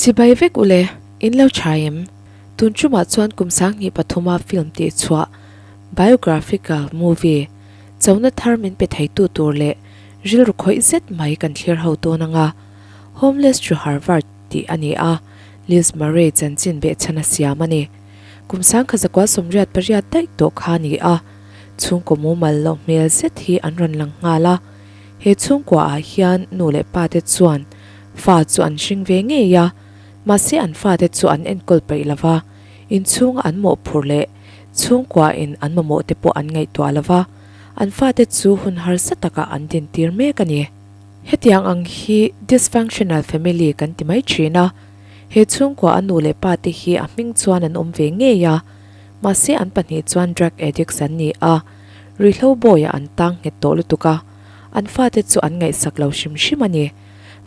Chibai vek ule, in lo tha em? Tun chumah chuan kum sanghnih pathuma film tih chhuah, biographical movie, chona thar min pe theitu tur leh rilru khawih zet mai kan thlir ho dawn anga, Homeless to Harvard tih a ni a, Liz Murray chanchin behchhana siam a ni. Kum sang kha zakua sawmriat pariat daih tawh kha a ni a, chhungkaw mumal loh hmel zet hi an rawn lang nghal a. He chhungkua ah hian nu leh pa te chuan fa chu an hring ve ngei a, mahse an fa te chu an enkawl peih lo va, inchhunga an mawhphurh leh chhungkua in an mamawh te pawh an ngaihtuah lo va, an fa te chu hun harsa takah an din tir mek a ni. Hetiang ang hi dysfunctional family kan ti mai thin a. He chhungkua a nu leh pa te hi a hming chuan an awm ve ngei a, mahse an pahnih chuan drug addicts an ni a, Rihlo bawiah an tang nghet tawh lutuk a, an fate chu an ngaihsak lo hrim hrim a ni.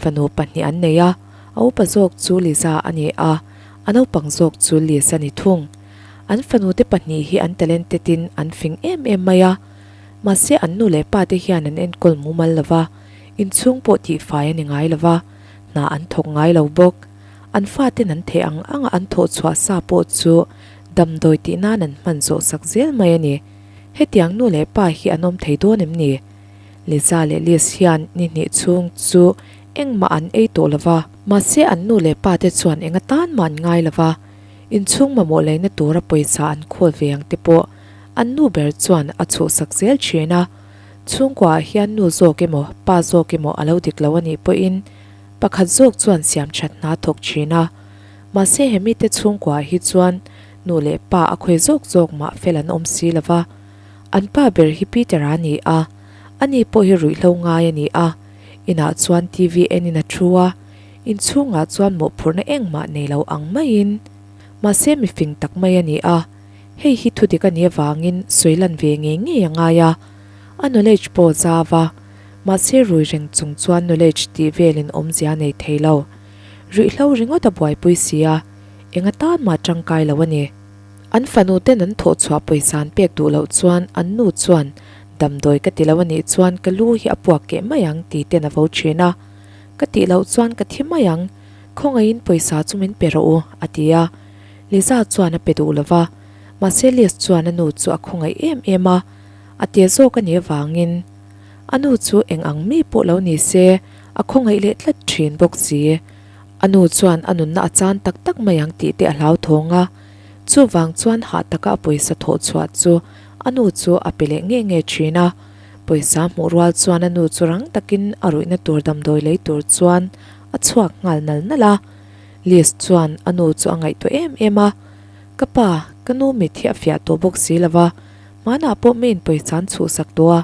Fanu pahnih an nei a, a upa zawk chu Liza a ni a, a naupang zawk chu Liz a ni thung. An fanute pahnih hi an talented in an fing em em mai a, mahse an nu leh pa te hian an enkawl mumal lo va, inchhung pawh tihfai a ni ngai lo va. hna an thawk ngai lo bawk. An fate'n an theh ang ang a, an thawh chhuah sa pawh chu damdawi tih nan an hman zawh sak zel mai a ni. Hetiang nu leh pa hi an awm thei dawn em ni? Liza leh Liz hian ni hnih chhung chu engmah an ei tawh lova. Mahse an nu leh pa te chuan eng atan mah an ngai lova, inchhung mamawh laina tura pawisa an khawl ve ang te pawh an nu ber chuan a chhuh sak zel thin a. Chhungkuaah hian nu zawk emaw pa zawk emaw a lo dik lo a nih pawhin pakhat zawk chuan siam that hna thawk thin a. Mahse he mite chhungkuaah hi chuan nu leh pa a khawi zawk zawk mah fel an awm si lova. An pa ber hi Peter-a a ni a, a ni pawh hi ruihhlo ngai a ni a, inah chuan TV enin a thu a, inchhungah chuan mawhphurhna engmah nei lo ang maiin mahse mi fing tak mai a ni a. Hei hi thudik a nih avangin sawi lan ve ngei ngei a ngai a, a knowledge pawh zau a, mahse rui reng chung chuan knowledge tih velin awmzia a nei thei lo. Ruihhlo ringawt a buaipui si a, enga tan mah tangkai lo a ni. An fanu ten an thawh chhuah pawi zan pek duh loh chuan an nu chuan damdawi ka ti lo a nih chuan ka lu hi a puak keh mai ang ti ten a vo thin a, ka tih loh chuan ka thi mai ang, khawngaihin pawisa chu min pe rawh u a ti a, Liza chuan a pe duh lo va, mahse Liz chuan a nu chu a khawngaih em em a, a tia zawk a nih avangin, A nu chu eng ang mi pawh lo ni se, a khawngaih leh tlat thin bawk si. A nu chuan a nunna a chan tak tak mai ang tih te a hlauthawng a, chuvang chuan hah taka a pawisa thawh chhuah chu a nu chu a pe leh nge nge thin a, pawisa hmuh rual chuan a nu chu rang takin a ruihna tur damdawi lei tur chuan a chhuak nghal nal nal a. Liz chuan a nu chu a ngaihtuah em em a, Ka pa, ka nu mit hi a fiah tawh bawk si lo va, hmanah pawh ma inpawih chan chhuhsak tawh a,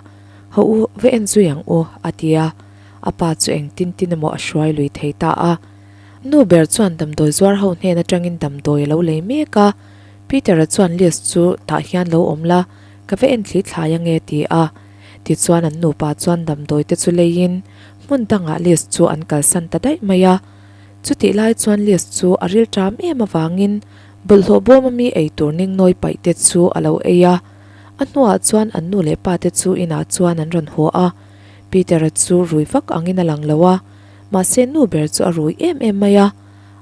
hau u, va en zui ang u, a ti a. A pa chu engtin tin emaw a hruai lui thei ta a. A nu ber chuan damdawi zuar ho hnen atangin damdawi a lo lei mek a. Peter-a chuan Liz chu tah hian lo awm la, ka va en thli thlai ang e, a ti a. Tichuan an nupa chuan damdawite chu leiin hmun dangah Liz chu an kalsan ta daih mai a. Chutih lai chuan Liz chu a rilṭam em avangin bawlhhlawh bawm a mi ei tur ning nawi paih te chu a lo ei a. A hnuah chuan an nu leh pa te chu inah chuan an rawn huah a. Peter-a chu rui vak angin a lang lo a, mahse nu ber chu a rui em em mai a.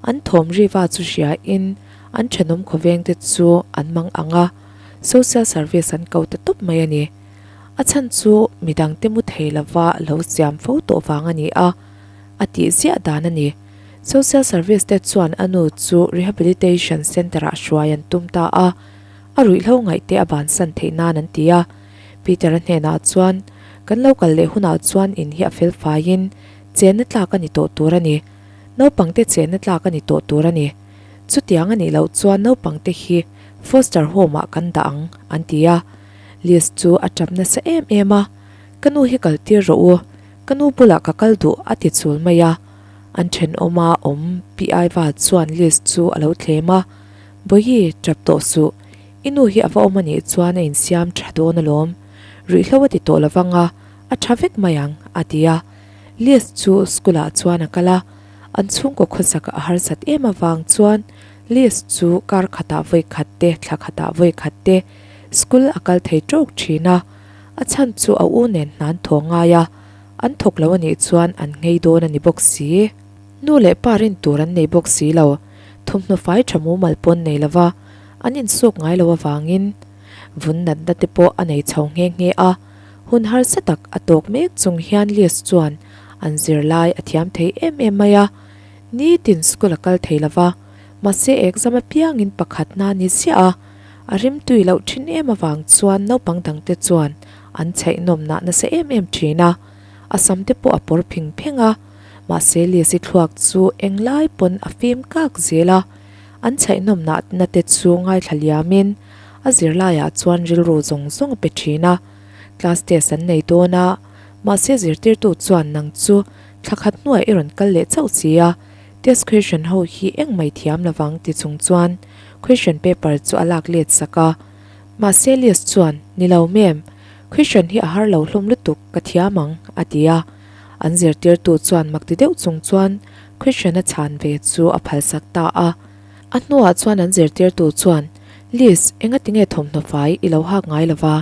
An thawm riva chu hriain an ṭhenawm khawveng te chu an mang ang a, social service an ko ta tawp mai a ni. A chhan chu midang te mu thei lova lo siam fo tawh vang a ni a. a tih ziah dan a ni. Social Service te chuan a nu chu Rehabilitation Centre ah hruai an tum ta a, a ruihhlo ngaihte a bansan theih nan an ti a. Peter-a hnenah chuan, Kan lo kal leh hunah chuan in hi a fel faiin chenna tlak a ni tawh tur a ni. Naupangte chenna tlak a ni tawh tur a ni. Chutiang a nih loh chuan naupangte hi Foster Home ah kan dah ang, an ti a. Liz chu a ṭap nasa em em a, Ka nu hi kaltir rawh u. Ka nu bulah ka kal duh a ti chul mai a, an thenawm a awm pi aiva chuan Liz chu a lo tlem a, Bawihi, tap tawh suh, i nu hi a va awm a nih chuan a insiam tha dawn alawm, ruihhlo a ti tawh lo vang a, a tha vek mai ang, a ti a. Liz chu school ah chuan a kal a, an chhungkaw khawsak a harsat em avang chuan Liz chu kar khatah vawi khat te thla khatah vawi khat te school a kal thei tawk thin a, A chhan chu a u nen hnan thawh ngai a, an thawk lo a nih chuan an ngei dawn a ni bawk si. Nu leh pa rin tur an nei bawk si lo. Thawmhnaw fai tha mumal pawn nei lo va, an insuk ngai lo avangin vun natna te pawh a nei chho nghe nghe a. Hun harsa tak a tawk mek chung hian Liz chuan an zirlai a thiam thei em em mai a. Nitin school a kal thei lo va, mahse exam apiangin pakhat hna ni ziah a, A rimtui loh thin em avang chuan naupang dangte chuan an chheihnawmna nasa em em thin a, a samte pawh a pawr pheng pheng a. Mahse Liasi thluak chu eng lai pawn a fim kak zel a, an chheihnawmna na te chu ngaithla liamin a zirlaiah chuan rilru zawng zawng a pe thin a. Class test an nei dawn a, mahse zirtirtu chuan nang chu thlakhat hnuaia i rawn kal leh chauh si a, Test question ho hi engmai thiam lovang ti chung chuan question paper chu a lak let sak a, mahse Elias chuan nilo ma'am, question hi a har lo hlawm lutuk ka thiam ang a ti a, an zirtirtu chuan mak ti deuh chung chuan question a chhan ve chu a phal sak ta a, a hnuah chuan an zirtirtu chuan Liz engatinge thawmhnaw fai ilo hak ngai lova,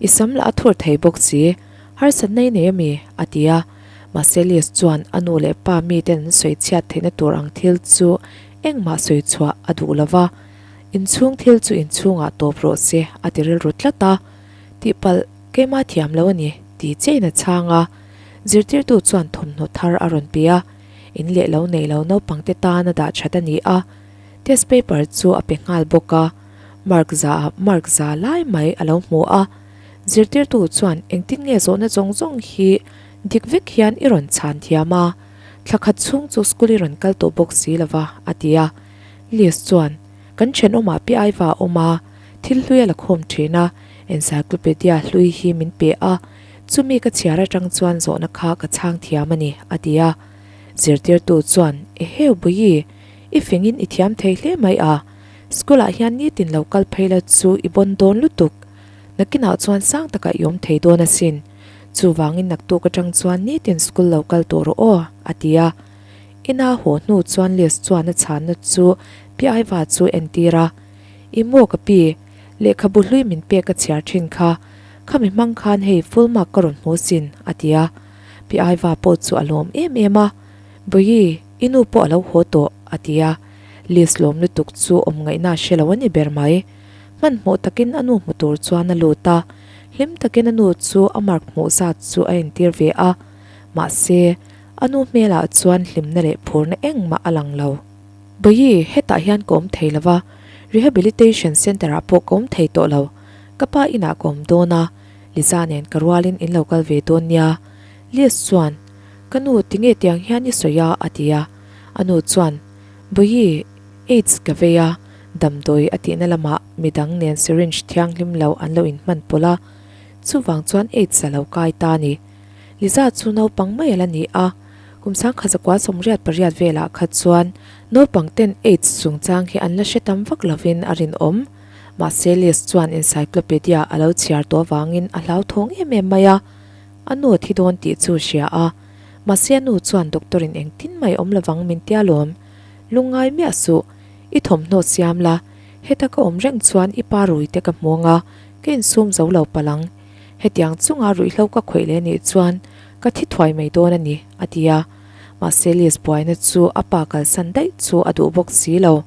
i sam lah a thur thei bawk si. Harsat na i nei a mi? a ti a. Mahse Liz chuan a nu leh pa mi ten sawi chhiat theihna tur ang thil chu engmah sawi chhuah a duh lo va, inchhung thil chu inchhungah tawp rawh se a ti rilru tlat a. Tihpalh, keimah thiam lo a ni, ti che in a chhang a. Zirtirtu chuan thawmhnaw thar a rawn pe a, in leh lo nei lo naupang te tan a dah that a ni a. Test paper chu a pe nghal bawk a, mark za ah mark za lai mai a lo hmu a. Zirtirtu chuan, Engtin nge zawhna zawng zawng hi dik vek hian i rawn chhan thiam a? Thla khat chhung chu school i rawn kal tawh bawk si lo va, a ti a. Liz chuan, Kan thenawm ah pe aiva a awm a, thil hlui a la khawm thin a, encyclopedia hlui hi min pe a, chumi ka chhiar atang chuan zawhna kha ka chhang thiam a ni, a ti a. Zirtirtu chuan, E heu Bawihi, i fing in i thiam thei hle mai a, school ah hian nitin lo kal phei lo chu i bawn dawn lutuk. Nakinah chuan sang takah i awm thei dawn asin. Chuvangin naktuk atang chuan nitin school lo kal tawh rawh aw, a ti a. I na haw hnu chuan list chuan a chhanna chu piaiva chu entir a, I maw ka pi, lehkhabu hlui min pek ka chhiar thin kha, khami hmang khan hei full mark ka rawn hmu sin, a ti a. Piaiva pawh chu a lawm em em a, Bawihi, i nu pawh a lo haw tawh, a ti a. List lawm lutuk chu awmngaihna a hre lo a ni ber mai. Hmanhmawh takin a nu hmu tur chuan a lut a, hlim takin a nu chu a mark hmuh zat chu a entir ve a. Mahse, a nu hmelah chuan hlimna leh phurna engmah a lang lo. Bawihi, hetah hian ka awm thei lo va, Rehabilitation Centre-ah pawh ka awm thei tawh lo. Ka pa inah ka awm dawn a, Liza nen ka rualin in lo kal ve dawn nia. Liz chuan, Ka nu, ti nge tiang hian i sawi a? a ti a. A nu chuan, Bawihi, Aids ka vei a, damdawi a tihna lamah mi dang nen syringe thianghlim lo an lo inhman pawlh a, chuvang chuan Aids a lo kai ta a ni. Liza chu naupang mai a la ni a, kum sangkhat zakua sawm riat pariat velah kha chuan naupangten Aids chungchang hi an la hre tam vak lovin a rinawm. Mahse Liz chuan encyclopedia a lo chhiar tawh avangin a hlauthawng em em mai a, a nu a thi dawn tih chu a hria a, mahse a nu chuan doctor in engtin mai awm lovang min tia lawm. Lungngai miah suh, i thawmhnaw siam la, heta ka awm reng chuan i pa rui te ka hmuang a, ka insum zo lo palh ang. Hetiang chunga ruihhlo ka khawih leh nih chuan ka thi thuai mai dawn a ni, a ti a. Mahse Liz buaina chu a pa kalsan daih chu a duh bawk si lo.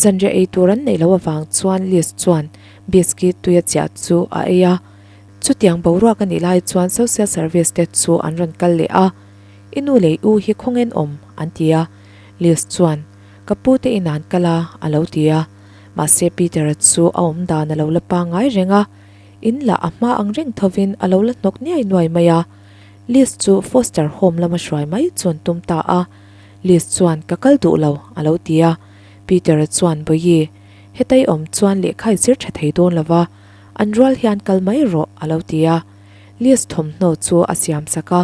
Zanriah ei tur an neih loh avang chuan Liz chuan biscuit tui a chiah chu a ei a. Chutiang boruak a nih lai chuan social service te chu an rawn kal leh a. I nu leh u hi khawngen awm, an ti a. Liz chuan, Ka pu te in an kal a, a lo ti a. Mahse Peter a chu a awm dan a lo la pa ngai reng a. In lah a hma ang reng thovin a lo la hnawk niai nuai mai a. Liz chu foster home lama hruai mai chuan tum ta a. Liz chuan, Ka kal duh lo, a lo ti a. Peter a chuan, Bawihi, hetaih awm chuan lehkha i zir tha thei dawn lo va. An rual hi an kal mai rawh, a lo ti a. Liz thawmhnaw chu a siam sak a.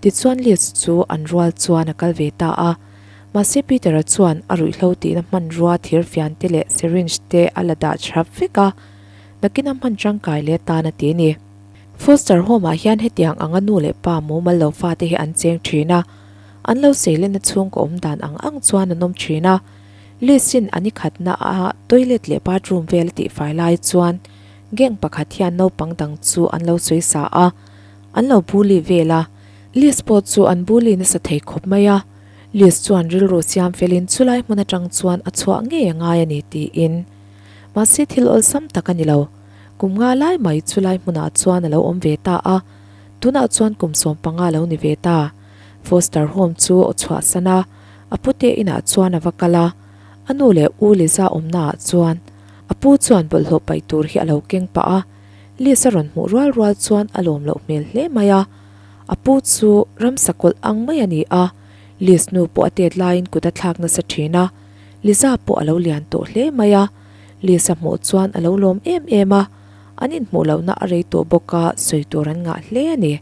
Tichuan Liz chu an rual chuan a kal ve ta a. Mahse Peter-a chuan a ruihhlo tihna hmanrua thirfiante leh syringe te a la dah hrap vek a, Nakin a hman tangkai leh tan a ti ni. Foster home-ah hian hetiang anga nu leh pa mumal lo fate hi an cheng thin a, an lo seilenna chhung ka awm dan ang ang chuan an awm thin a. Liz-in a nikhatna a toilet leh bathroom vel a tihfai lai chuan gang pakhat hian naupang dang chu an lo sawi sa a. an lo bully vel a, Liz pawh chu an bully nasa thei khawp mai a, Liz chuan rilru siam felin chulai hmun atang chuan a chhuah ngei a ngai a ni tiin. Mahse thil awlsam tak a ni lo, kum nga lai mai chulai hmunah chuan a lo awm ve ta a, tunah chuan kum sawm panga lo ni ve ta. Foster home chu a chhuah san a, a pu te inah chuan a va kal a, a nu leh u Liza awmnaah chuan a pu chuan bawlhhlawh paih tur hi a lo keng pah a, Lisa rawn hmuh rual rual chuan a lawm loh hmel hle mai a, a pu chu ramsa kawlh ang mai a ni a, Liz nu pawh a tet laiin kut a thlak nasa thin a, Liza pawh a lo lian tawh hle mai a, Liza hmuh chuan a lo lawm em em a, an inhmuh lohna a rei tawh bawk a, sawi tur an ngah hle a ni.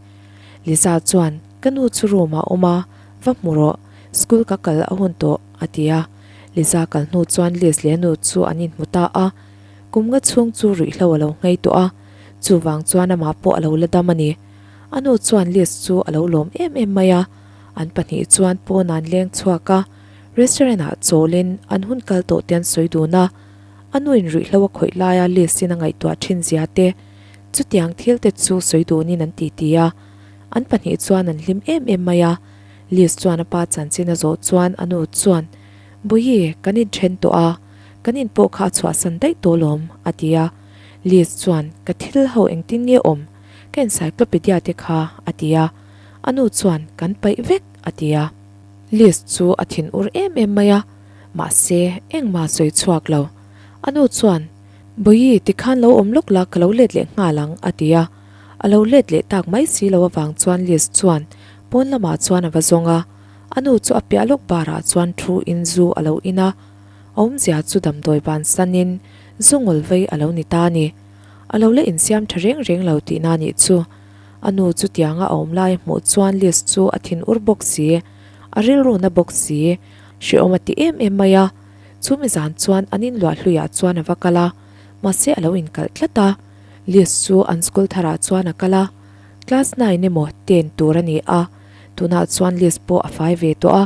Liza chuan, Ka nu chu room ah a awm a, va hmu rawh, school ka kal a hun tawh, a ti a, Liza kal hnu chuan Liz leh a nu chu an inhmu ta a, Kum nga chhung chu ruihhlo a lo nghei tawh a, chuvang chuan amah pawh a lo la dam a ni. A nu chuan Liz chu a lo lawm em em mai a, an pahnih chuan pawnan leng chhuak a, restaurant ah chawlin an hun kal tawh te an sawi dun a. A nu in ruihhlo a khawih laia Liz in a ngaihtuah thin zia te, chutiang thil te chu sawi dunin an titi a, an pahnih chuan an hlim em em mai a. Liz chuan a pa chanchin a zawh chuan a nu chuan, Bawiii, kan inthen tawh a. Kan in pawh kha a chhuahsan daih tawh lawm, a ti a. Liz chuan, Ka thil ho engtin nge awm? Ka encyclopedia te kha, a ti a. A nu chuan, Kan paih vek, a ti a. Liz chu a thin ur em em mai a, mahse, engmah sawi chhuak lo. A nu chuan, Bawihi, tikhan lo awm lawk la, ka lo let leh nghal ang, a ti a. A lo let leh tak mai si lo avang chuan Liz chuan pawn lamah chuan a va zawng a. A nu chu a piah lawk barah chuan thu in zu a lo in a. a awmzia chu damdawi ban sanin zu ngawlh vei a lo ni ta a ni. A lo la insiam tha reng reng lo tihna a nih chu. A nu chutianga a awm lai a hmuh chuan Liz chu a thin ur bawk si, a rilru na bawk si. Hreawm a ti em em mai a, chumi zan chuan an in luah hluiah chuan a va kal a, mahse a lo inkalh tlat a. Liz chu an school tharah chuan a kal a, class nine emaw ten tur a ni a, tunah chuan Liz pawh a fai ve tawh a.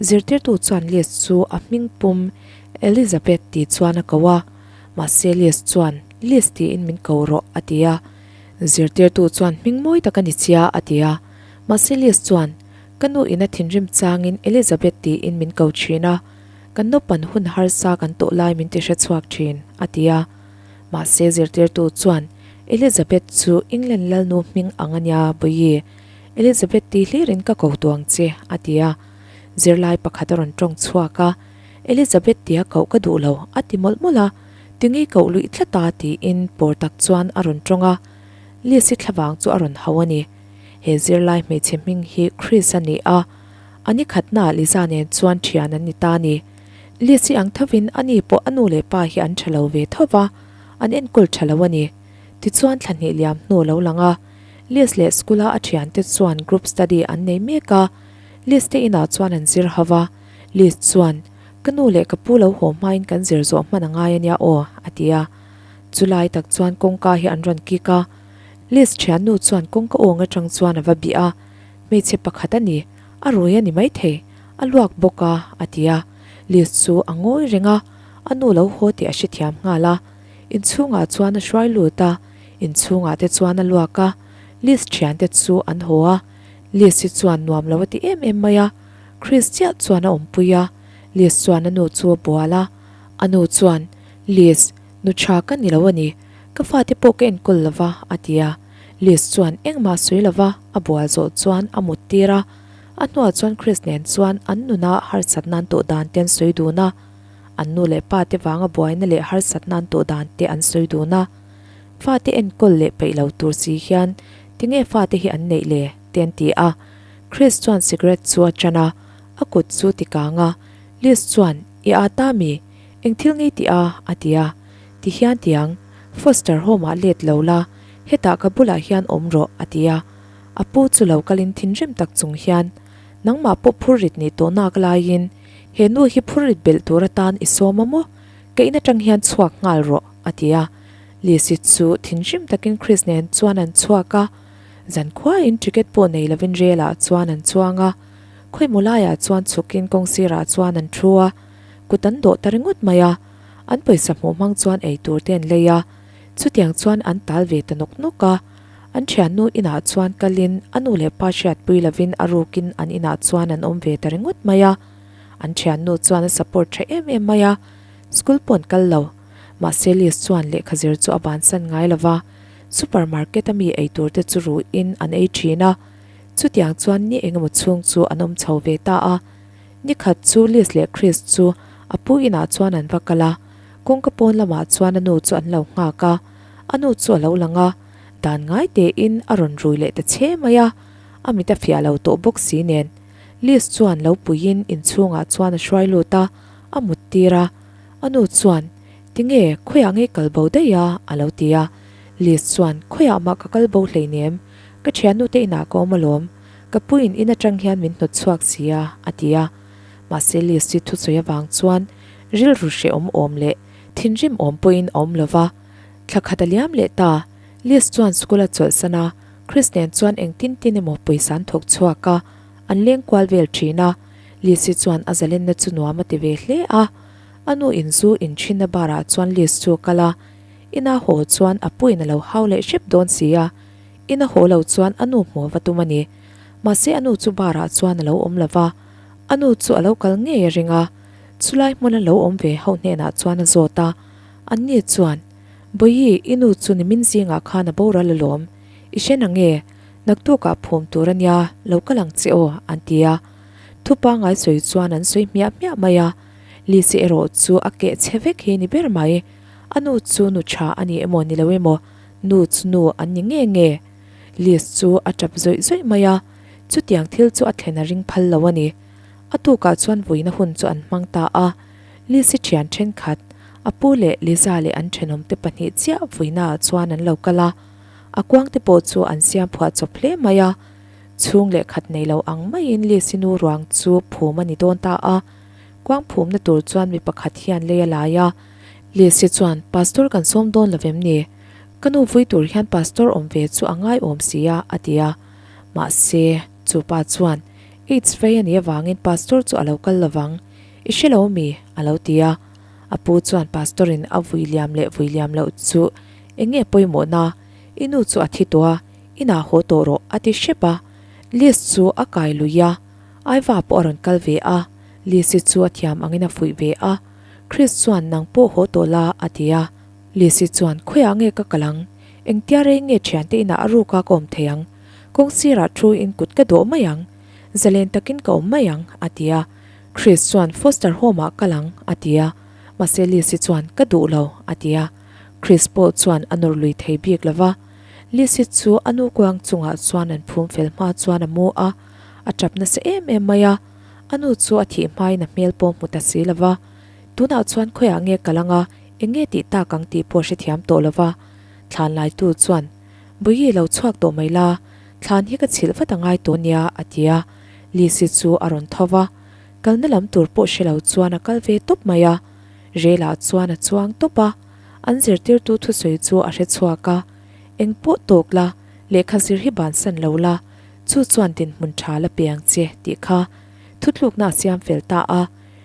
Zirtirtu chuan Lies chu a hming pum Elizabeth tih chuan a ko a, mahse Lies chuan Lies tiin min ko rawh a ti a. Zirtirtu chuan hming mawi tak a ni sia a ti a, mahse Lies chuan Ka nu ina thinrim changin Elizabeth tiin min ko thin a, kan naupan hun harsa kan tawh lai min ti hre chhuak thin a ti a. Mahse Zirtirtu chuan Elizabeth chu England lalnu hming ang a nia Bawihi. Elizabeth tih hlirin ka ko tuang che, a ti a. Zirlai pakhat a rawn tawng chhuak a, Elizabeth tia koh ka duh lo, a ti mawlh mawlh a. Tingi koh luih tlat ta tiin pawr tak chuan a rawn tawng a. Liasi thla vang chu a rawn hau a ni. He zirlai hmeichhe hming hi Chris a ni a, a ni khatna Liza nen chuan thian an ni ta ni. Liasi ang thovin ani pawh a nu leh pa hi an tha lo ve thova, an enkawl tha lo a ni. Tichuan thla hnih liam hnu a lo lang a. Liz leh School-a a thiante chuan group study an nei mek a, Liz te inah chuan an zir ho va, Liz chuan, Ka nu leh ka pu lo haw hmain kan zir zawh hman a ngai ania aw, a ti a. Chu lai tak chuan kawngka hi an rawn kik a, Liz thiannu chuan kawngka awng atang chuan a va bih a, Hmeichhe pakhat a ni, a rui a ni maithei, a luak bawk a, a ti a, Liz chu a ngawi reng a, a nu lo haw tih a hrethiam nghal a, inchhungah chuan a hruai lut a, Inchhungah te chuan a luak a, Liz thiante chu an haw a, Liz hi chuan nuam lo a ti em em mai a, Chris chiah chuan a awmpui a, Liz chuan a nu chu a bual a, a nu chuan, Liz, nu tha ka ni lo a ni, ka fate pawh ka enkawl lo va a ti a, Liz chuan engmah sawi lo va a bual zawh chuan a mut tir a, a hnuah chuan Chris nen chuan an nuna harsatna an tawh dan te an sawi dun a, an nu leh pa te vanga buaina leh harsatna an tawh dan te an sawi dun a. Fate enkawl leh peih lo tur si hian tinge fate hi an neih le? te an ti a. Chris chuan cigarette chu a chan a, a kut chu tikang a. Liz chuan, I ah ta mi? Eng thil ngei tih a? a ti a. Ti hian ti ang, Foster home ah let lo la, hetah ka bulah hian awm rawh, a ti a. A pu chu lo kalin thinrim tak chung hian, Nangmah pawh phur rit ni tawh nak laiin he nu hi phur rit belh tur atan i sawm a maw? Keihna tang hian chhuak nghal rawh. a ti a. Lisi chu thin hrim takin Chris nen chuan an chhuak a, zan khuain ticket pawh nei lovin relah chuan an chuang a. Khawimawh laiah chuan chhukin kawng sirah chuan an thu a, kut an dawh ta ringawt mai a, an pawisa hmuh hmang chuan ei tur te an lei a, chutiang chuan an tal ve ta nawk nawk a. An thiannu inah chuan kalin a nu leh pa hriatpui lovin a rukin an inah chuan an awm ve ta ringawt mai a, an thiannu chuan a support tha em em mai a, school pawh an kal lo. Mahse Liz chuan lehkha zir chu a bansan ngai lo va, Supermarket a mi eitur te chu ruh in an ei thin a, chutiang chuan ni engemaw chhung chu an awm chho ve ta a. Ni khat chu Liz leh Chris chu a pu inah chuan an va kal a, kawngka pawn lamah chuan a nu chu an lo nghak a, a nu chu a lo lang a, dan ngai te in a rawn rui leh ta che mai a, a mit a fiah lo tawh bawk si nen. Liz chuan lo pui in inchhungah chuan a hruai lut a, a mut tir a, A nu chuan, Tinge, khawiah ngei kal bo daih a, a lo ti a. Liz chuan, Khawiah mah ka kal bo hlein em? Ka thiannute inah ka awm alawm. Ka puiin in atang hian min hnawt chhuak si a, a ti a. Mahse Liz hi thusawi avang chuan rilru hreh awm awm leh thinrim awm pawhin a awm lo va. Thla khat a liam leh ta, Liz chuan school a chawlhsan a, Chris nen chuan engtin tin emaw pawisa an thawk chhuak a, an leng kual vel thin a, Liz-i chuan a zalenna chu nuam a ti ve hle a. A nu in zu in thinna barah chuan Liz chu a kal a, ina haw chuan a puin a lo hau leh hrep dawn si a, ina haw lo chuan a nu hmuh va tum a ni. Mahse a nu chu barah chuan a lo awm lo va, a nu chu a lo kal ngei a ring a. Chulai hmun a lo awm ve ho hnenah chuan a zawt a, anni chuan, Bawihi, i nu chu ni min zingah khan a boral alawm, i hre na nge? Naktukah phum tur a nia, lo kal ang che aw, an ti a. Thu pangngai sawi chuan an sawi hmiah hmiah mai a. Lisi erawh chu a keh che vek hi a ni ber mai. A nu chu nu tha a ni emaw ni lo emaw, nu chu nu an ni nge nge. Lis chu a tap zawih zawih mai a, chutiang thil chu a thlen a ring phal lo a ni. A tukah chuan vuina hun chu an hmang ta a. Lisi thian thenkhat, a pu leh Liza leh an thenawmte pahnih chiah vuinaah chuan an lo kal a. A kuangte pawh chu an siam phuah chawp hle mai a. Chhung leh khat nei lo ang maiin Lisinu ruang chu phum a ni dawn ta a. Kuang phumna tur chuan mi pakhat hian lei a lai a. Lisi chuan, Pastor kan sawm dawn lo em ni? Ka nu vui tur hian Pastor awm ve chu a ngaiawm si a, a ti a. Mahse, chu pa chuan, Aids fei a nih avangin Pastor chu a lo kal lo vang. I hre lo a mi? a lo ti a. A pu chuan, Pastor-in a vui liam leh vui liam loh chu Enge pawimawhna? I nu chu a thi tawh a, inah haw tawh rawh, a ti hrep a. Liz chu a kai lui a, aiva pawh a rawn kal ve a, Lizzie chu a thiam angin a fuih ve a. Chris chuan nang pawh haw tawh la, a ti a. Lizzie chuan, Khawiah nge ka kal ang? Engtia rei nge thiante inah a ru ka ka awm thei ang? Kawng sirah thu in kut ka duah mai ang, za len takin ka awm mai ang, a ti a. Chris chuan, Foster home-ah kal ang, a ti a. Mahse Lizzie chuan, Ka duh lo, a ti a. Chris pawh chuan a nawr lui thei bik lo va. Lizzy chu a nu kuang chungah chuan an phum fel hma chuan a mu a, a tap nasa em em mai a, a nu chu a thih hmain a hmel pawh hmu ta si lo va. Tunah chuan khawiah nge ka lang a, enge tih ta kang tih pawh hrethiam tawh lo va. Thlanlaitu chuan, Buyi lo chhuak tawh mai la, thlan hi ka chhilh vat a ngai tawh nia, a ti a. Lizzy chu a rawn tho va. Kalna lam tur pawh hre lo chuan a kal ve tawp mai a. Relah chuan a chuang tawp a, an zirtirtu thusawi chu a hre chhuak a, Eng pawh tawk la, lehkha zir hi bansan lo la, chu chuan dinhmun tha la piang che tih kha thutlukna a siam fel ta a,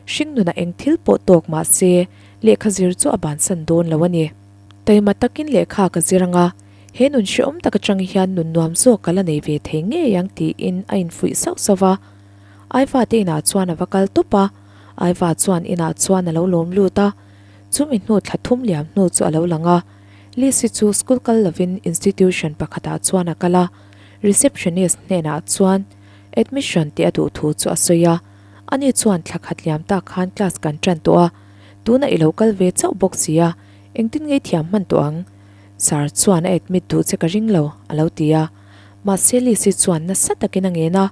Hringnuna eng thil pawh tawk mahse lehkha zir chu a bansan dawn lo a ni. Taima takin lehkha ka zir ang a, he nun hrehawm tak aṭang hian nun nuam zawk ka la nei ve thei ngei ang tiin a infuih sauh sauh a, Aifa te inah chuan a va kal tawp a, Aifa chuan inah chuan a lo lawm lut a, chumi hnu thla thum liam hnu chu a lo lang a. Lisi chu school kal lovin institution pakhatah chuan a kal a, receptionist hnenah chuan admission tih a duh thu chu a sawi a, ani chuan thla khat liam tak khan class kan tan tawh a, tuna i lo kal ve chauh bawk si a, engtin ngei thiam hman tawh ang? Sir chuan a admit duh che ka ring lo, a lo ti a. Mahse Lisi chuan nasa takin a ngen a,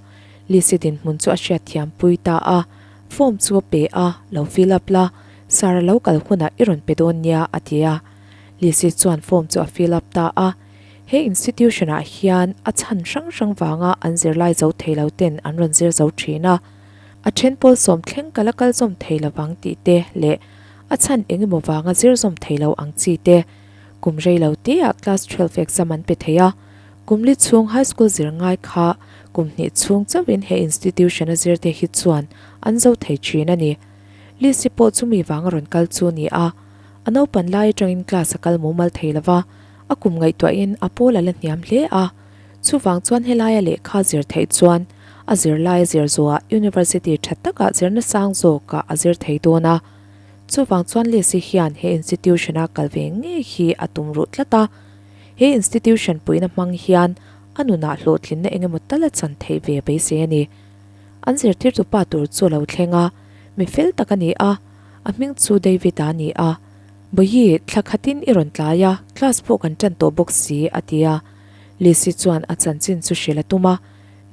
Lise dinhmun chu a hriatthiam pui ta a, form chu a pe a, lo fill up la, sir a lo kal hunah i rawn pe dawn nia a ti a. Lise chuan form chu a fill up ta a, he institution ah hian a chhan hrang hrang vanga an zirlai zo thei lo ten an rawn zir zo thin a, a then pawl sawm thleng kal a kal zawm thei lo ang tih te leh a chhan eng emaw vanga zir zawm thei lo ang chi te. Kum rei lo te ah class twelve exam an pe thei a, Kum li chhung high school zir ngai kha kum hnih chhung chauhin he institution a zirte hi chuan an zo thei thin a ni. Lisi pawh chumi vanga rawn kal chu ni a, a naupan lai atangin class a kal mumal thei lova, a kum ngaihtuahin a pawl a la hniam hle a. Chuvang chuan helaia lehkha zir theih chuan a zir laia zir zuaha university tha taka zir nasang zawka a zir thei dawn a. Chuvang chuan Lisi hian he institution a kal ve ngei hi a tum ruh tlat a. He institution puina hmang hian a nunah hlawhtlinna engemaw ta la chan theih ve mai se a ni. An zirtirtu pa tur chu a lo thleng a, mi fel tak a ni a, a hming chu David a ni a. Bawihi, thla khatin i rawn tlai a, class pawh kan tan tawh bawk si, a ti a. Lisi chuan a chanchin chu hrilh a tum a.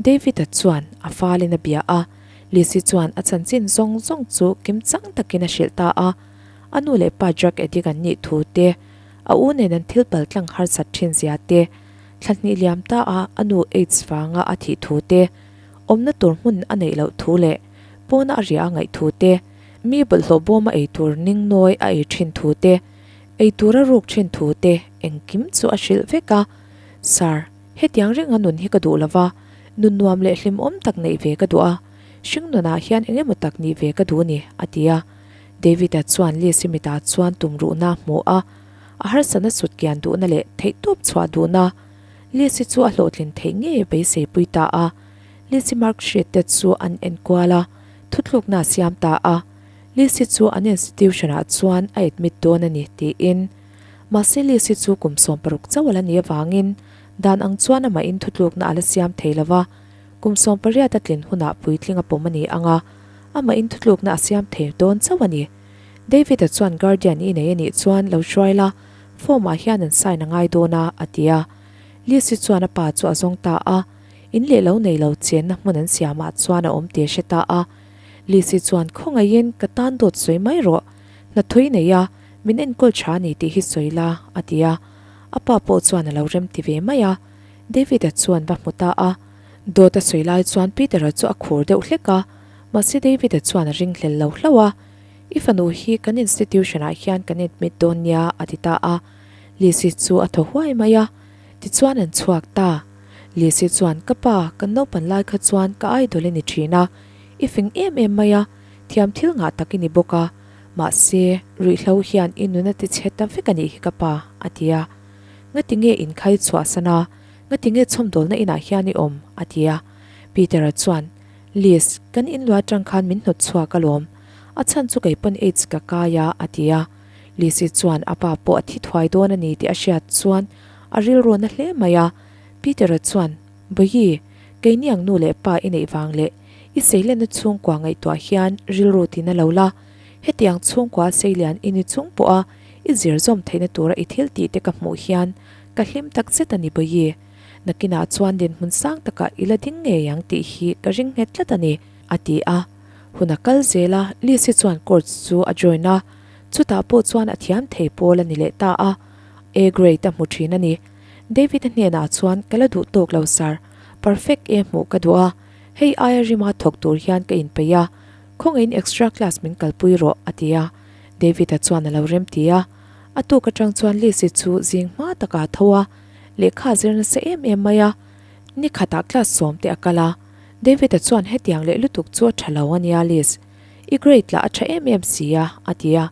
David-a chuan a falin a bia a. Lisi chuan a chanchin zawng zawng chu kim chang takin a hrilh ta a. A nu leh pa drug addict an nih thu te, A u nen an thil paltlang harsat thin zia te, thla hnih liam ta a a nu aids vanga a thih thu te, awmna tur hmun a neih loh thu leh pawna a riah a ngaih thu te, mi bawlhhlawh bawm a ei tur ning nawi a ei thin thu te, ei tur a ruk thin thu te engkim chu a hrilh vek a. Sir, hetiang ringa nun hi ka duh lo va, nun nuam leh hlimawm tak neih ve ka duh a, hringnunah hian eng emaw tak nih ve ka duh a ni, a ti a. David-a chuan Lia-simita chuan tum ruhna a hmuh a, a harsa nasut kian duhna leh theihtawp chhuah duhna. Lia-si chu a hlawhtlin theih ngei beiseipui ta a, Lia-si Mark hriat te chu an enkual a, thutlukna a siam ta a, Lia-si chu an institution-ah chuan a admit dawn a ni, tiin. Mahse, Lia-si chu kum sawm paruk chauh a la nih avangin, dan ang chuan amahin thutlukna a la siam thei lo a, Kum sawm pariat a tlin hunah puitling a pawm a ni ang a, amahin thutlukna a siam thei dawn chauh a ni. David-a chuan Guardian i nei a nih chuan lo hruai la, form-ah hian an sign a ngai dawn a, a ti a. Liz-i chuan a pa chu a zawng ta a, in leh lo nei lo chenna hmun an siamah chuan a awm tih a hre ta a. Liz-i chuan khawngaihin ka tan dawt sawi mai rawh, hnathawih nei a, min enkawl tha a ni tih hi sawi la, a ti a. A pa pawh chuan a lo remti ve mai a. David-a chuan va hmu ta a, dawta sawi lai chuan Peter-a chu a khur deuh hlek a, mahse David-a chuan a ring hlel lo hlauh a, I fanu hi kan institution-ah hian kan admit dawn nia a ti ta a, Lizzy chu a thaw huai mai a, tichuan an chhuak ta. Lizzy chuan ka pa, kan naupan lai kha chuan ka idol i ni thin a, i fing em em mai a, thiamthil ngah tak i ni bawk a, mahse ruihhlo hian i nuna tichhe ta vek a nih hi ka pa a ti a. Ngati nge in khai chhuah san a? Ngati nge chhawmdawlna inah hian i awm? a ti a. Peter-a chuan, Liz, kan inluah atang khan min hnawt chhuak alawm. A chhan chu kei pawn aids ka kai a, a ti a. Liz-i chuan a pa pawh a thi thuai dawn a ni tih a hriat chuan a rilru na hle mai a. Peter-a chuan, Bawihi, kei niang nu leh pa i neih vang leh i seilena chhungkua ngaihtuah hian rilru ti na lo la. Hetiang chhungkua Seilian i ni chung pawh a, i zir zawm theihna tura i thil tih te ka hmuh hian ka hlim tak zet a ni bawi i. Nakinah chuan din hmun sang takah i la ding ngei ang tih hi ka ring nghet tlat a ni, a ti a. Hun a kal zel a, Liz-i chuan court chu a join a, chutah pawh chuan a thiam thei pawl a ni leh ta a, A grade a hmu thin a ni. David-a hnenah chuan ka la duh tawk lo sir, perfect e hmuh ka duh a, hei aia rima thawk tur hian ka inpeih a, Khawngeiin extra class min kalpui rawh, a ti a. David-a chuan a lo remti a. A tuk atang chuan Liz-i chu zing hma taka a tho a, lehkha a zir nasa em em mai a. Ni khatah class sawmte a kal a. David-a chuan hetiang leh lutuk chu a tha lo a nia Liz. I grade lah a tha em em si a, a ti a.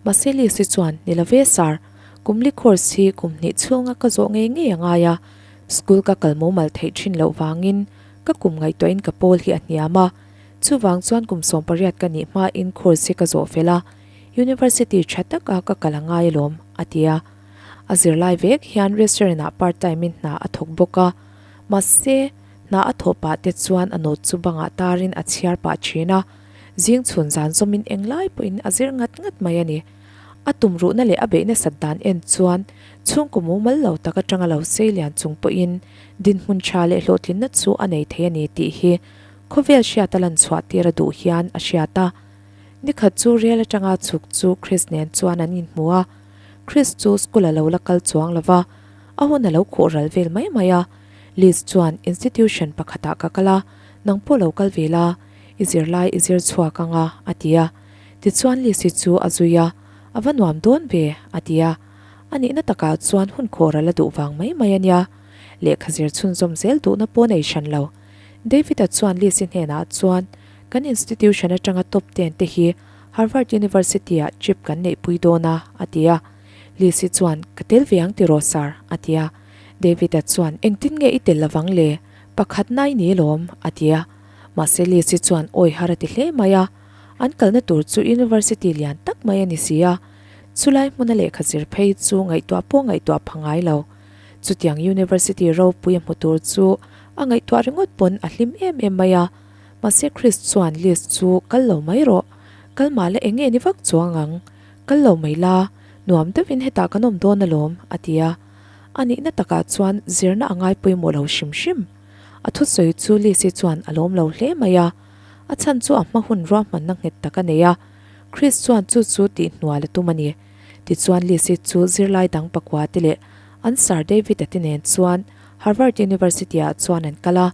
Mahse Liz-i chuan, Ni love sir. Kumli course hi kum hnih chhunga ka zawh ngei ngei a ngai a. School ka kal momal theih thin loh vangin ka kum ngaihtuahin ka pawl hi a hniam a. Chuvang chuan kum sawm pariat ka nih hma in course hi ka zawh fel a, University tha tak a ka kal a ngai alawm, a ti a. A zirlai vek hian restaurant ah part time in hna a thawk bawk a, mahse, hna a thawh pah te chuan a nawt chu bangah tar in a chhiar pah thin a, zing chhun zan zawm in eng lai pawh in a zir ngat ngat mai a ni. A tum ruhna leh a beih nasat dan en chuan chhungkaw mumal lo tak atanga lo sei lian chung pawh in dinhmun tha leh hlawhtlinna chu a nei thei a ni tih hi Khawvel hriat a lan chhuah tir a duh hian a hriat a. Nikhat chu rel atanga chhuk chu Chris nen chuan an inhmu a. Chris chu school a lo la kal chuang lo va, a hun a lo khawh ral vel mai mai a. Liz chuan, Institution pakhatah ka kal a, nang pawh lo kal ve la, i zir lai i zir chhuak ang a, a ti a. Tichuan Liz hi chu a zui a, A va nuam dawn ve, a ti a. A nihna takah chuan hun khawh ral a duh vang mai mai a nia. Lehkha zir chhunzawm zel duhna paw'n ei hran lo. David-a chuan Lisi hnenah chuan, Kan institution atanga top ten te hi Harvard University-ah trip kan neihpui dawn a, a ti a. Lisi chuan, Ka tel ve ang tiraw sir? a ti a. David-a chuan, Engtin nge i tel lovang le? Pakhat nai ni alawm, a ti a. Mahse Lisi chuan awi har a ti hle mai a. An kalna tur chu University lian tak mai a ni si a, chulai hmuna lehkha zir phei chu ngaihtuah pawh ngaihtuah pha ngai lo. Chutiang University ropui a hmu tur chu a ngaihtuah ringawt pawn a hlim em em mai a, mahse Chris chuan Liz chu kal lo mai rawh, kal mah la eng nge ni vak chuang ang, kal lo mai la, nuam deuhin hetah kan awm dawn alawm, a ti a. A nihna takah chuan zirna a ngai pawimawh lo hrim hrim. A thusawi chu Liz hi chuan a lawm lo hle mai a, a chhan chu a hma hun ruahmanna nghet tak a nei a, Chris chuan chu chu tih hnuai la tum a ni. Tichuan Lisi chu zirlai dang pakua te leh an sir Davida te nen chuan Harvard University-ah chuan an kal a.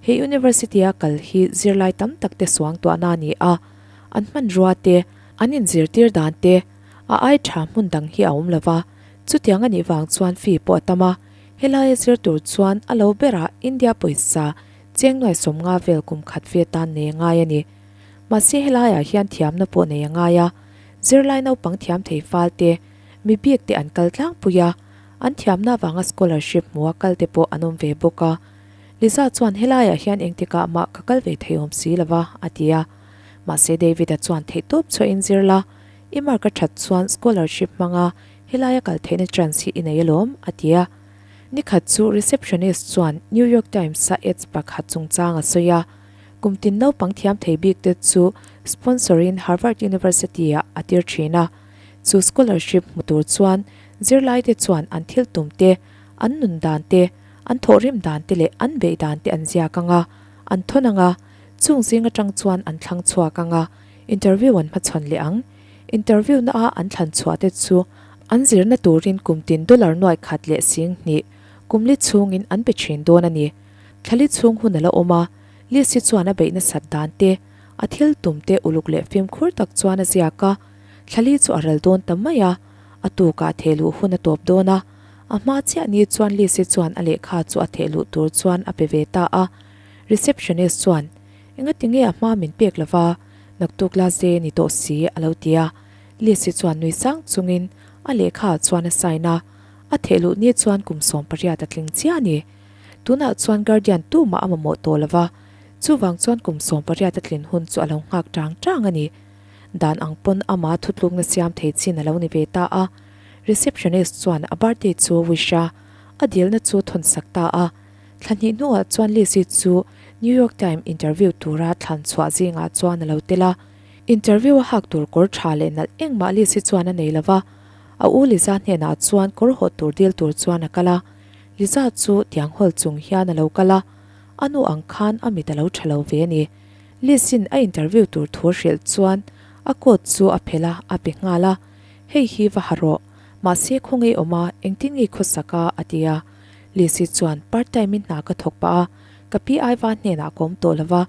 He University-a kal hi zirlai tam tak te suangtuahna a ni a, an hmanrua te, an inzirtir dan te, a ai tha hmun dang hi a awm lo va. Chutiang a nih vang chuan fee pawh a tam a. Helai a zir tur chuan a lo ber a, India pawisa chengnuai sawm nga vel kum khat ve tan nei a ngai a ni. Mahse helaiah hian thiamna pawh nei a ngai a, Zirlai naupang thiam thei fal te, mi biak te an kal tlangpui a, an thiamna avanga scholarship hmu a kal te pawh an awm ve bawk a. Liza chuan helaiah hian engtik ah mah ka kal ve thei awm si lova a ti a. Mahse David-a chuan theihtawp chhuahin zir la, i mark a that chuan scholarship hmanga helai a kal theihna chance hi i nei alawm a ti a. Nikhat chu receptionist chuan New York Times-a ads pakhat chungchang a sawi a. Kum tin naupang thiam thei bik te chu sponsor in Harvard University ah a tir thin a. Chu scholarship hmu tur chuan zirlai te chuan an thil tum te, an nun dan te, an thawhrim dan te leh an beih dan te an ziak ang a, an thawn ang a, chung zing atang chuan an thlang chhuak ang a, interview an hmachhawn leh ang. Interview na a an thlan chhuah te chu an zirna turin kum tin dollar nuai khat leh sing hnih kum li chungin an pe thin dawn a ni. Thlali chhung hun a la awm a, Lisi chuan a beih nasat dan te, a thil tum te uluk leh fimkhur tak chuan a ziak a. Thlali chu a ral dawn ta mai a, a tukah thehluh hun a tawp dawn a. A hma chiah ni chuan Lisi chuan a lehkha chu a thehluh tur chuan a pe ve ta a. Receptionist chuan, Engatinge a hma min pek lova, naktuk la ze ni tawh si, a lo ti a. Lisi chuan nui sang chungin a lehkha chuan a sign a. A thehluh ni chuan kum sawmpariat a tling chiah a ni. Tunah chuan Guardian tu mah a mamawh tawh lova, chuvang chuan kum sawm pariata tlin hun chu a lo nghak tang tang a ni. Dan ang pawn ama thutlukna siam thei chin a lo ni ve ta a, receptionist chuan a birthday chu a wish a, a dilna chu a thawnsak ta a. Thla hnih hnuah chuan Lizzy chu New York Times interview tura thlan chhuah zingah chuan a lo tel a. Interview a hak tur kawr tha leh nalh engmah Lizzy chuan a nei lova, a u Liza hnenah chuan kawr hawh tur dil tur chuan a kal a. Liza chu tiang hall chung hian a lo kal a, a nu ang khan a mit a lo tha lo ve a ni. Lisin a interview tur thu a hrilh chuan a coat chu a phel a, a pe nghal a, Hei hi va ha rawh, mahse khaw ngei awm a, engtin nge i khaw sak a? a ti a. Lisi chuan, Part time in hna ka thawk pah a, ka pi aiva hnenah a kawm tawh lova,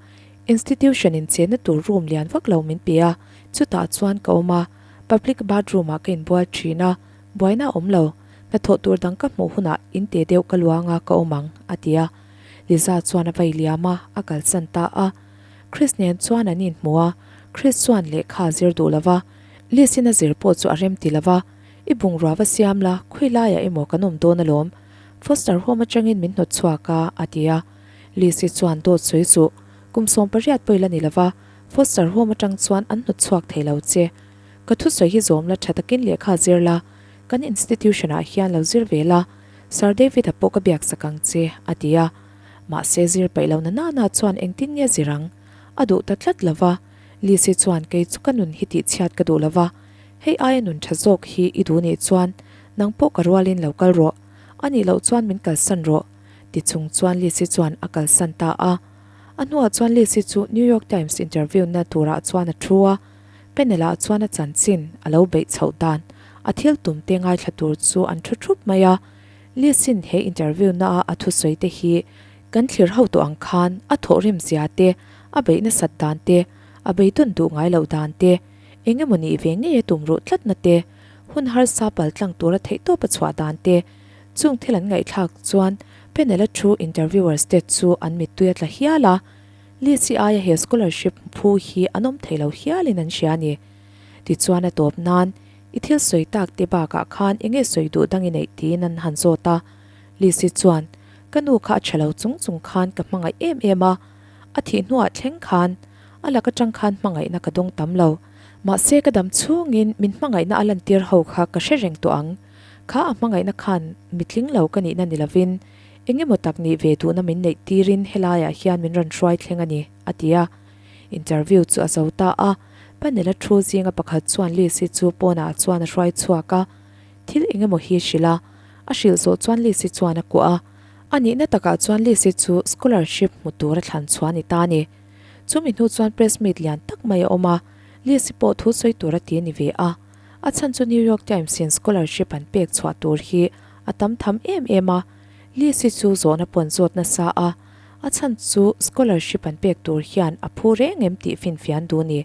institution in chenna tur room lian vak lo min pe a, chutah chuan ka awm a, public bathroom ah ka inbual thin a, Buaina a awm lo. Hnathawh tur dang ka hmuh hunah in te deuh ka luang a ka awm ang, a ti a. Liza chuan a vailiam a, a kalsan ta a. Chris nen chuan an inhmu a. Chris chuan lehkha a zir duh lova, Liz-in a zir pawh chu a rem ti lova. I bungrua va siam la, khawi laia emaw kan awm dawn alawm. Foster home atangin min hnawt chhuak a, a ti a. Liz-i chuan, Dawt sawi suh. Kum sawmpariat pawh i la ni lova, Foster home atang chuan an hnawt chhuak thei lo che. Ka thusawi hi zawm la tha takin lehkha a zir la, kan institution ah hian lo zir ve la, Sir David a pawh ka biaksak ang che, a ti a. Mahse, zir paih lo na nana chuan engtin nge zir ang? A duh ta tlat lo va. Lizzy chuan kei chu ka nun hi tih chhiat ka duh lo va. Hei aia nun tha zawk hi i duh nih chuan, nang pawh ka rualin lo kal rawh. A nih loh chuan min kalsan rawh. Ti chung chuan Lizzy chuan a kalsan ta a. A hnuah chuan Lizzy chu New York Times interview na turah chuan a thu a. Penela chuan a chanchin a lo beih chhoh dan. A thil tum te ngaithla tur chu an thu thup mai a. Liasin he interview na a a thusawi te hi kan thlir ho tawh ang khan a thawh rem zia te, a beih nasat dan te, a bei dawn duh ngai loh dan te, eng emaw nih ve ngei a tum ruh tlat na te, hun harsa pal tlang tur a theih tawp a chhuah dan te, chung thil an ngaihthlak chuan Penela thu interviewers te chu an mittui a tla hial a. Lee Chi Aia he scholarship phu hi an awm thei lo hial in an hria a ni. Tichuan a tawp nan, I thil sawi tak te bakah khan enge sawi duh dang i neih tiin an han zawt a. Lee Si chuan, Ka nu kha a tha lo chung chung khan ka hmangaih em em a. A thih hnuah thleng khan a lak atang khan hmangaihna ka dawng tam lo. Mahse ka dam chhung in min hmangaihna a lantir ho kha ka hre reng tawh ang. Kha a hmangaihna khan mi tling lo ka nihna ni lovin Eng emaw tak nih ve duhna min neih tirin helaiah hian min rawn hruai thleng a ni, a ti a. Interview chu a zo ta a, Panela thu zinga pakhat chuan Lisi chu pawnah chuan a hruai chhuak a. Thil eng emaw hi a hrilh a, a hrilh zawh chuan Lisi chuan a kuah a. A nihna takah chuan Lisi chu scholarship hmu tur a thlan chhuah a ni ta a ni. Chumi hnu chuan press meet lian tak mai a awm a, Lisi pawh thu sawi tur a ti a ni ve a. A chhan chu New York Times in scholarship an pek chhuah tur hi a tam tham em em a, Lisi chu zawhna pawn zawt nasa a, a chhan chu scholarship an pek tur hian a phu reng em tih finfian duh ni.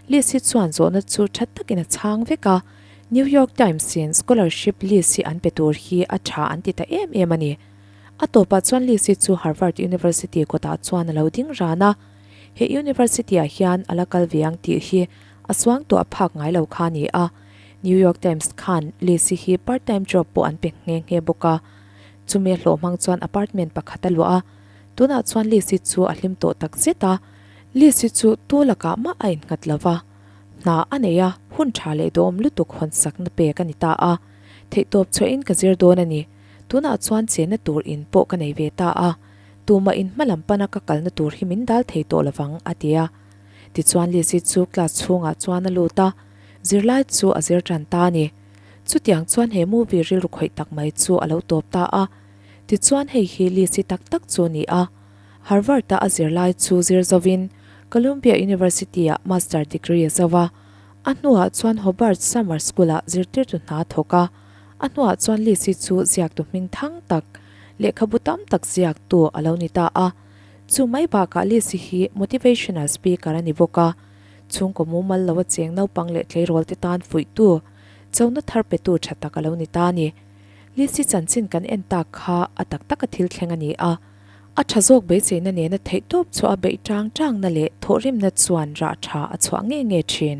Lisi chuan zawhna chu that takin a chhang vek a, New York Times in scholarship Lisi an pe tur hi a tha an ti ta em em a ni. A tawpah chuan Lisi chu Harvard University kawtah chuan a lo ding ran a, he University-ah hian a la kal ve ang tih hi a suang tawh a phak ngai lo kha a ni a, New York Times khan Lizzy hi part time job pawh an pe nghe nghe bawk a. Chumi a hlawh hmang chuan apartment pakhat a luah a, tunah chuan Lizzy chu a hlim tawh tak zet a, Lizzy chu tu lakah mah a innghat lo va, hna a nei a, hun tha leh dawm lutuk hawnsakna pek a ni ta a, theihtawp chhohin ka zir dawn a ni, tunah chuan chenna tur in pawh ka nei ve ta a, tumah in hma lam pana ka kalna tur hi min dal thei tawh lovang a ti a. Tichuan Lisi chu class chhungah chuan a lut a, Zirlai chu a zir tan ta a ni. Chutiang chuan he movie rilru khawih tak mai chu a lo tawp ta a. Tichuan hei hi Lisi tak tak chu a ni a. Harvard-a a zirlai chu zir zovin Columbia University-ah Master degree a zo a. A hnuah chuan Hobart Summer School-ah zirtirtu hna a thawk a. A hnuah chuan Lisi chu ziaktu hming thang tak, lehkhabu tam tak ziaktu a lo ni ta a. Chu mai bakah Lisi hi motivational speaker a ni bawk a, chhungkaw mumal lo a cheng naupang leh tleirawlte tan fuihtu, chona thar petu tha tak a lo ni ta a ni. Lisi chanchin kan en tak kha a tak tak a thil thleng a ni a, a tha zawk beiseina nena theihtawp chhuaha beih ṭang ṭangna leh thawhrimna chuan rah ṭha a chhuah nge nge ṭhin.